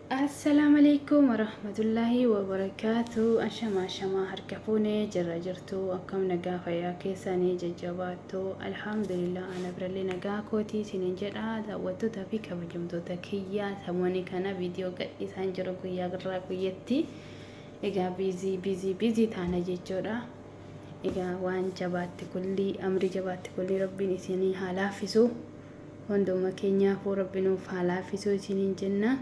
Assalaamu alaikum warahmatullaahi wabarakaatu ashama ashama harka fuune jirra jirtu akkam nagaa fayyaa keessanii jajjabaattu alhamdulillah ana birallee nagaa kootii isiniin jedha daawwattoota fi kabajamtoota kiyyaa samooni kana viidiyoo gadhiisaan jiru guyyaa birraa guyyatti Egaa biizii biizii biizii taana jechuudha. Egaa waan jabaatti kullii amrii jabaatti kullii rabbiin isinii haa laaffisu. Hunduma keenyaafuu rabbi nuuf haa laaffisu isiniin jenna.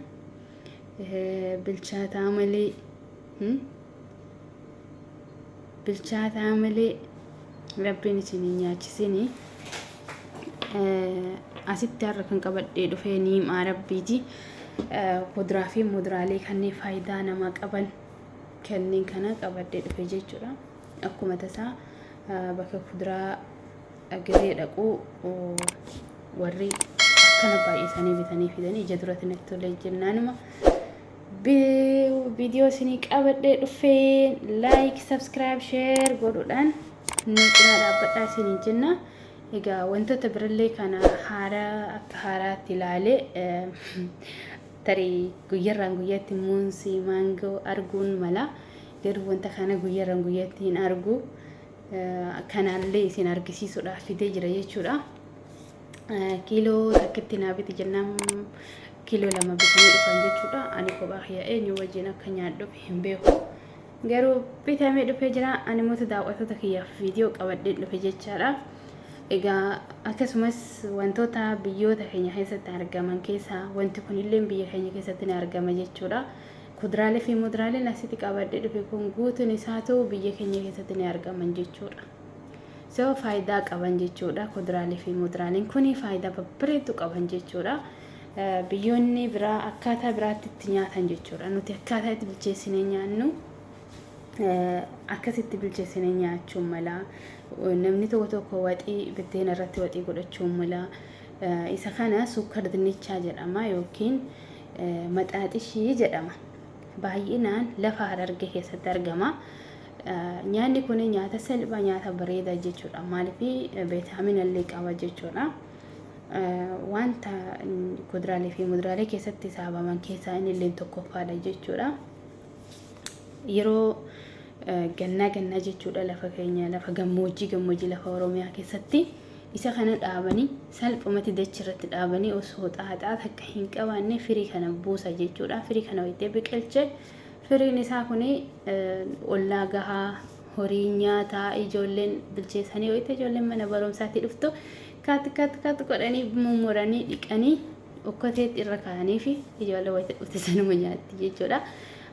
Bilchaataa malee bilchaataa malee. Rabbiin isin hin nyaachisini. Asitti har'a kan qabadhee dhufee niimaa rabbiiti. Kuduraa fi muduraalee kanneen faayidaa namaa qaban kanneen kana qabadhee dhufe jechuudha. Akkuma tasaa bakka kuduraa gahee dhaquu warri akkana baay'isanii bitanii fidanii ija duratti natti tolee jennaanuma. viidiyoo isinii qabadhee dhufeen like subscribe share godhuudhaan nu cinaa dhaabbadhaa isiniin jenna egaa wantoota birallee kana haaraa akka haaraatti ilaalee eh, tarii guyyarraan guyyatti muunsii maangoo arguun mala garuu wanta kana guyyarraan guyyatti hin argu Eh, kanaallee isin argisiisuudhaaf fidee jira jechuudha. kiiloo takkitti naa biti jennaan kiiloo lama bitanii dhufan jechuudha. Ani kophaa kiyya eenyu wajjin akka nyaadhu hin beeku. Garuu bitamee dhufee jira. Ani mootu daawwattoota kiyyaaf viidiyoo qabadheen dhufe jechaadha. Egaa akkasumas wantoota biyyoota keenya keessatti argaman keessaa wanti kunillee biyya keenya keessatti ni argama jechuudha. Kuduraalee fi muduraaleen asitti qabadhee dhufe kun guutuun isaatu biyya keenya keessatti ni argaman jechuudha. So faayidaa qaban jechuudha kuduraalee fi muduraaleen kun faayidaa babbareedduu qaban jechuudha. Biyyoonni biraa akkaataa biraatti itti nyaatan jechuudha. Nuti akkaataa itti bilcheessinee nyaannu akkasitti bilcheessinee nyaachuu mala. Namni tokko tokko waxii biddeena irratti waxii godhachuu mala. Isa kana suukkar dinnichaa jedhama yookiin maxaaxishii jedhama. Baay'inaan lafa harargee keessatti argama. Nyaanni kun nyaata salphaa nyaata bareedaa jechuudha. Maaliif beetaamina illee qaba jechuudha. Wanta kuduraalee fi muduraalee keessatti saabaman keessaa inni illee tokkoffaadha jechuudha. Yeroo gannaa gannaa jechuudha lafa keenya lafa gammoojjii gammoojjii lafa Oromiyaa keessatti isa kana dhaabanii salphumatti dachi irratti dhaabanii osoo xaaxaa takka hin qabaanne firii kana buusa jechuudha. Firii kana wayitee biqilche Firiin isaa kun ollaa gahaa, horiin nyaata, ijoolleen bilcheessanii wayita ijoolleen mana barumsaatti dhuftu kaat kaat kaat godhanii mummuranii dhiqanii okkoteetti irra kaa'anii fi ijoollee wayita dhufte sanuma nyaatti jechuudha.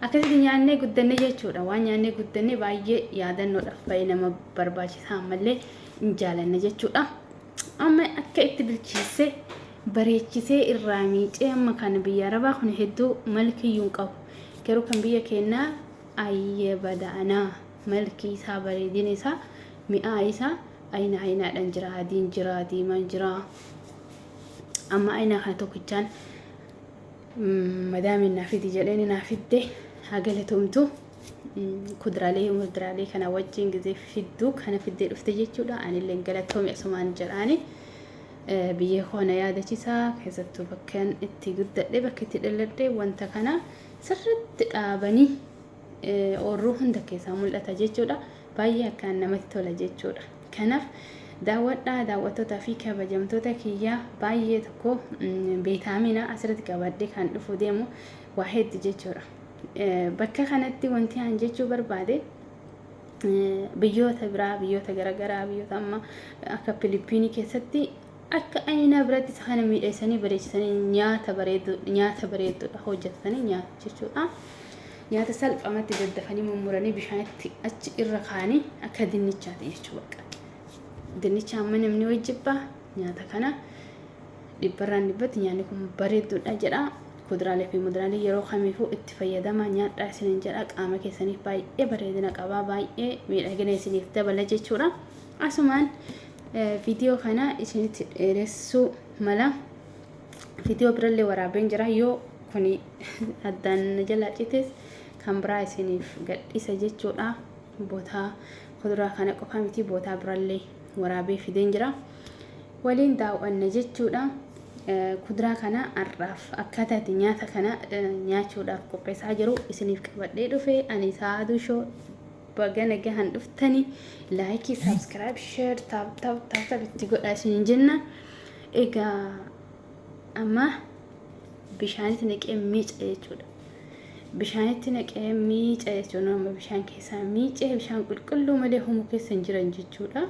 Akkasitti nyaannee guddanne jechuudha. Waan nyaannee guddanne baay'ee yaadannoodhaaf baay'ee nama barbaachisa ammallee hin jaalanne jechuudha. Amma akka itti bilcheesse bareechisee irraa miicee amma kan biyya arabaa kun hedduu malkiyyuu hin qabu garuu kan biyya keennaa ayyee badaanaa malkii isaa bareedina isaa mi'aa isaa ayina ayinaadhaan jira adiin jira diimaan jira amma ayinaa kana tokkichaan mm, madaamiin naa fidi jedheen naa fidde haa galatoomtu Mm, kudraalee mudraalee kana wajjin gisee fidduu kana fiddee dhufte jechuudha anillee galatoomi asumaan jedhaani. Biyya koo na yaadachisa, keessattuu bakkan itti guddadhe, bakki itti dhalladhe wanta kana sirriitti dhaabanii oorruu hunda keessaa mul'ata jechuudha. Baay'ee akkaan namatti tola jechuudha. Kanaaf daawwadhaa daawwattootaa fi kabajamtoota kiyyaa baay'ee tokko beetaamina asirratti qabadhe kan dhufu deemu waa heddu jechuudha. Bakka kanatti wanti aan jechuu barbaade biyyoota biraa biyyoota garagaraa biyyoota amma akka Filiippiinii keessatti akka ayinaa biratti isa kana miidheessanii bareechisanii nyaata bareedu nyaata bareedudha hojjetatanii nyaatu jechuudha. Nyaata salphamatti daddafanii mummuranii bishaanitti achi irra kaanii akka dinnichaati jechuu bakka. Dinnicha amma namni wajjibba nyaata kana Dhibbarraan dhibbatti nyaanni kun bareedduudha jedha. Kuduraalee fi muduraalee yeroo kamiifuu itti fayyadama nyaadhaa isiniin jedha. Qaama keessaniif baay'ee bareedina qaba. Baay'ee miidhagina isiniif dabala jechuudha. Asumaan viidiyoo kana isinitti dheeressuu mala. Viidiyoo birallee waraabeen jira. Yoo kun addaan na jalaa cites kan biraa isiniif gadhiisa jechuudha. Bootaa kuduraa kana qofaa miti bootaa birallee waraabee fideen jira. waliin daaw'anna jechuudha. Kuduraa kana har'aaf akkaataa itti nyaata kana nyaachuudhaaf qopheessaa jiru isiniif qabadhee dhufe ani saaduu shoo baga nagahan dhuftani laayikii saabskiraayib sheer taap taap taap taap itti godha isiniin jenna egaa amma bishaanitti naqee miica jechuudha. Bishaanitti naqee miica jechuun amma bishaan keessaa miicee bishaan qulqulluu malee homo keessa hin jiran jechuudha.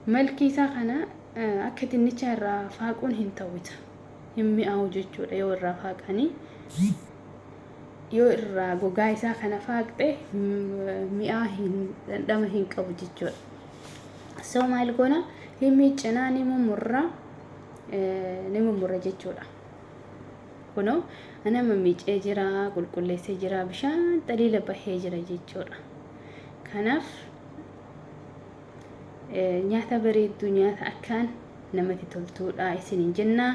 Malkii isaa kana akka dinnichaa irraa faaquun hin ta'u isa. Hin mi'aawu jechuudha yoo irraa faaqanii. Yoo irraa gogaa isaa kana faaqxe mi'aa hin dhandhama hin qabu jechuudha. So maal goona ni miiccinaa ni mummurra ni mummurra jechuudha. Kunoo anama miicee jira qulqulleessee jira bishaan xaliila bahee jira jechuudha. Kanaaf Nyaata bareedduu nyaata akkaan namatti toltuudha isiniin jenna.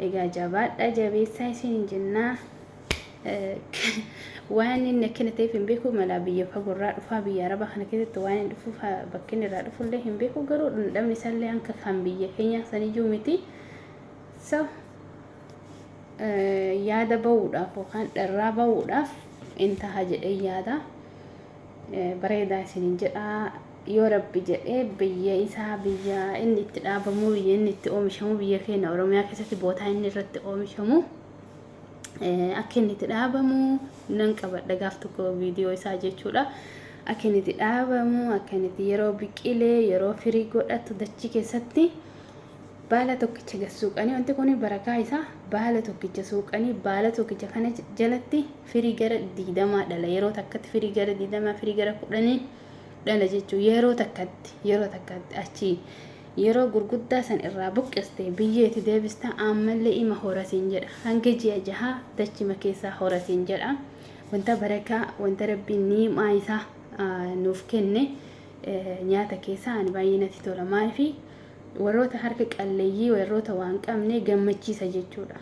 Egaa jabaadha jabeessaa isiniin jenna. Waan inni akkana ta'eef hin beeku malaa biyya fagoorraa dhufaa biyya arabaa kana keessatti waan inni dhufuuf bakka inni irraa dhufullee hin beeku garuu dhandhamni isaallee hanka kan biyya keenyaa saniyyuu miti. So yaada ba'uudhaaf yookaan dharraa ba'uudhaaf in taha jedhee yaada. bareedaa isinin jedha yoo rabbi jedhe biyya isaa biyya inni itti dhaabamuu biyya inni itti oomishamuu biyya keenya oromiyaa keessatti bootaa inni irratti oomishamu akka inni itti dhaabamu nan qabadha gaaf tokko viidiyoo isaa jechuudha akka inni itti dhaabamu akka inni itti yeroo biqilee yeroo firii godhatu dachii keessatti Baala tokkicha gad suuqanii, wanti kun barakaa isaa baala tokkicha suuqanii, baala tokkicha kana jalatti firii gara digdamaa dhala. Yeroo takkatti firii gara digdamaa, firii gara kudhanii dhala jechuun yeroo takkatti, yeroo takkatti achii yeroo gurguddaa san irraa buqqiste biyyeeti deebista ammallee ima horasiin jedha. Hanga ji'a jahaa dachima keessaa horasiin jedha. Wanta barakaa, wanta rabbiin niimaa isaa nuuf kenne nyaata keessaa ani baay'ee natti tola. Maaliif Warroota harka qalleeyyii, warroota waa hin qabne gammachiisa jechuudha.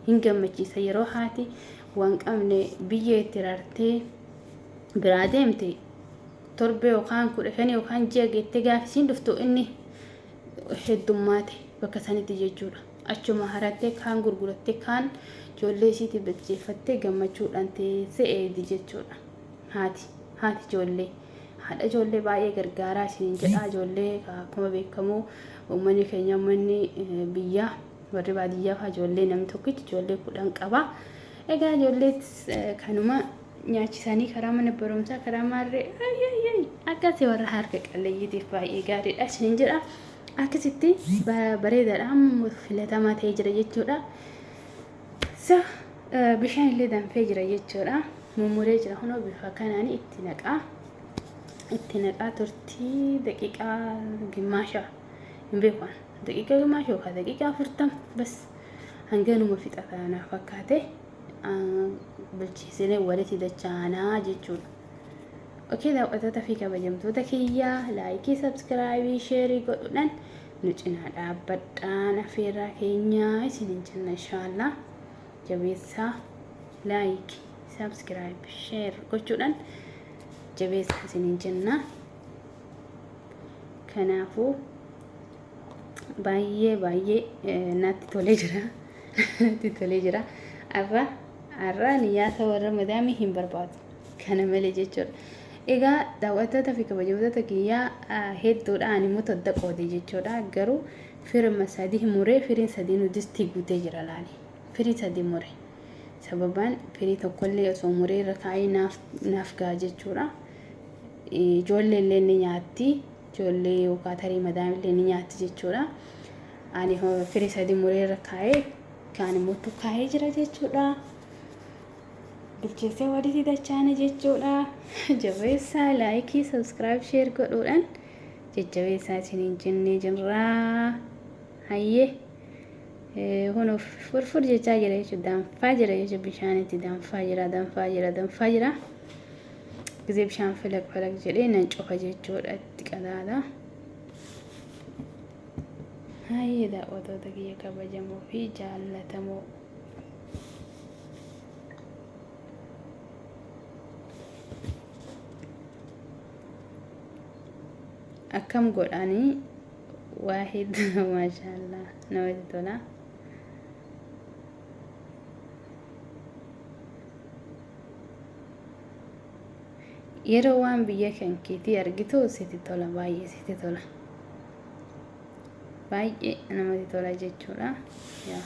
Hin gammachiisa. Yeroo haati waa hin qabne biyyee itti rartee biraa deemte torbee yookaan kudha shanii yookaan ji'a geettee gaafa isiin dhuftu inni heddummaate bakka sanitti jechuudha. Achuma harattee kaan gurgurattee kaan ijoollee isiitii bilcheeffattee gammachuudhaan teessee eegdi jechuudha. Haati haati ijoollee. Haadha ijoollee baay'ee gargaaraa isiniin jedha. Ijoollee akkuma beekamu uummanni keenya uummanni biyyaa warri baadiyyaa fa'aa ijoollee namni tokkichi ijoollee kudhan qaba. Egaa ijoolleetis kanuma nyaachisanii karaa mana barumsaa karaa maarree ayyayyay akkasi warra harka qalleeyyiitiif baay'ee gaariidha isiniin jedha. Akkasitti bareedaadha filatamaa ta'ee jira jechuudha. So bishaan illee danfee jira jechuudha. Mummuree jira kunoo bifa kanaan itti naqaa. Itti naqaa turtii daqiiqaa gimmaasha hin beeku. Daqiiqaa gimmaasha yookaan daqiiqaa afurtam bas hanganuma fixata naaf fakkaate bilcheessinee walitti dachaanaa jechuudha. Okee daawwattoota fi kabajamtoota kiyyaa laayikii, sabskiraayibii, sheerii godhuudhaan Nu cinaa dhaabbadhaan afeerraa keenya isinin jenna inshaallaa. Jabeessaa like, subscribe, share gochuudhaan jabeessaa isinin jenna. Kanaafuu baay'ee baay'ee natti tolee jira. Natti tolee jira. Arra arra niyyaata warra madaamii hin barbaadu. Kana malee jechuudha. Egaa daaw'attoota fi kabajamtoota kiyya hedduudha ani immoo todda qoode jechuudha garuu firma sadii muree firiin sadiinuu distii guutee jira laali firii sadii mure sababaan firii tokkollee osoo muree irra kaa'ee naaf naaf ga'a jechuudha ijoollee illee ni nyaatti ijoollee yookaan tarii madaam illee ni nyaatti jechuudha ani firii sadii muree irra kaa'ee kaan immoo kaa'ee jira jechuudha. bilcheessee walitti dachaana jechuudha jabeessaa laayikii sabskiraayib sheer godhuudhaan jajjabeessaa isiniin jennee jirraa hayyee kunuuf furfur jechaa jira jechuudha danfaa jira jechuudha bishaanitti danfaa jira danfaa jira danfaa jira gisee bishaan filaq filaq jedhee nan cufa jechuudha itti qadaada hayyee daawwatoota kiyya kabajamoo fi jaallatamoo akkam godhaanii waa hedduu maashaallah namatti tola. Yeroo waan biyya kan keetii argitu sitti tola baay'ee sitti tola. baay'ee namatti tola jechuudha. Yaa.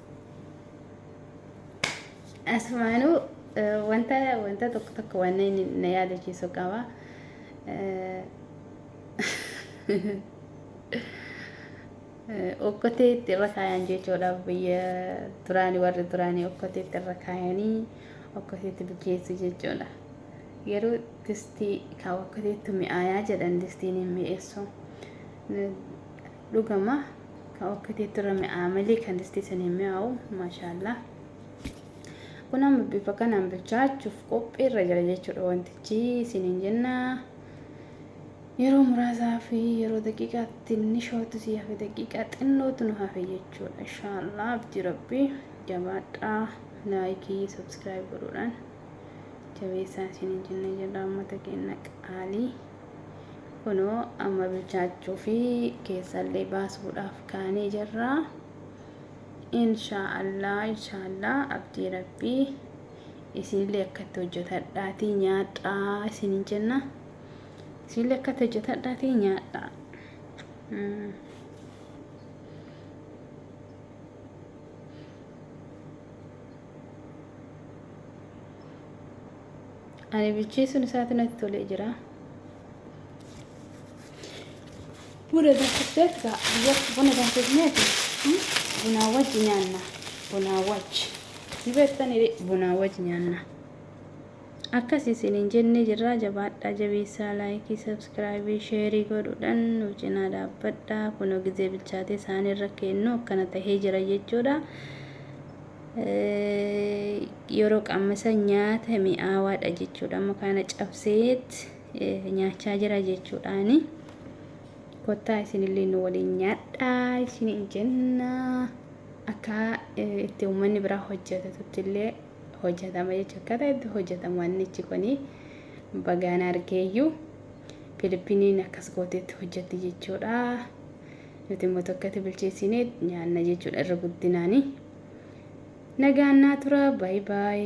Asumaanuu wanta wanta tokko tokko waan na yaadachiisu qaba. Okkotee itti irra kaayan jechuudha biyya duraanii warri duraanii okkotee itti irra kaayanii okkotee itti bukeessu jechuudha. Garuu distii kan okkoteetti mi'aayaa jedhan distiin hin mi'eessu. Dhugama ka okkateetti irra mi'aa'a malee kan distii san hin mi'aawu. Maashaallah. Kun amma bifa kanaan bilchaachuuf qophii irra jira jechuudha wantichi isiniin jenna. Yeroo muraasaa fi yeroo daqiiqaa tinnishootu si hafe daqiiqaa xinnootu nu hafe jechuudha. Inshaallah abdii rabbii jabaadhaa laayikii sabskiraayib godhuudhaan jabeessaa isiniin jenna jedha uummata keenya qaalii. kunoo amma bilchaachuu fi keessallee baasuudhaaf kaanee jirra inshaallah inshaallah abdii rabbii isinillee akkatti hojjetadhaatii nyaadhaa isinin jenna isinillee akkatti hojjetadhaatii nyaadhaa mm. Ani bilcheessuun isaatu natti tolee jira. Buna danfisee egaa biyyatti buna danfisneeti bunaa wajji nyaanna. Bunaa wajji. Ni beektanii bunaa wajji nyaanna. Akkas isiniin jennee jirraa jabaadhaa jabeessaa laayikii sabskiraayibii sheerii godhuudhaan nu cinaa dhaabbadhaa kunoo gizee bilchaatee isaaniirra kennu akkana tahee jira jechuudha. Yeroo qammasa nyaata mi'aawaadha jechuudha. Amma kana cabseet nyaachaa jira jechuudhaani. Kottaa isinillee nu waliin nyaadhaa isiniin jenna. Akka itti uummanni biraa hojjetatutti illee hojjetama jechuudha. Akkaataa itti hojjetamu annichi kuni bagaan argeeyyuu Filippiniin akkas gooteetti hojjetti jechuudha. Nuti immoo tokkatti bilcheessinee nyaanna jechuudha irra guddinaani. Nagaan naa tura. Baay baay.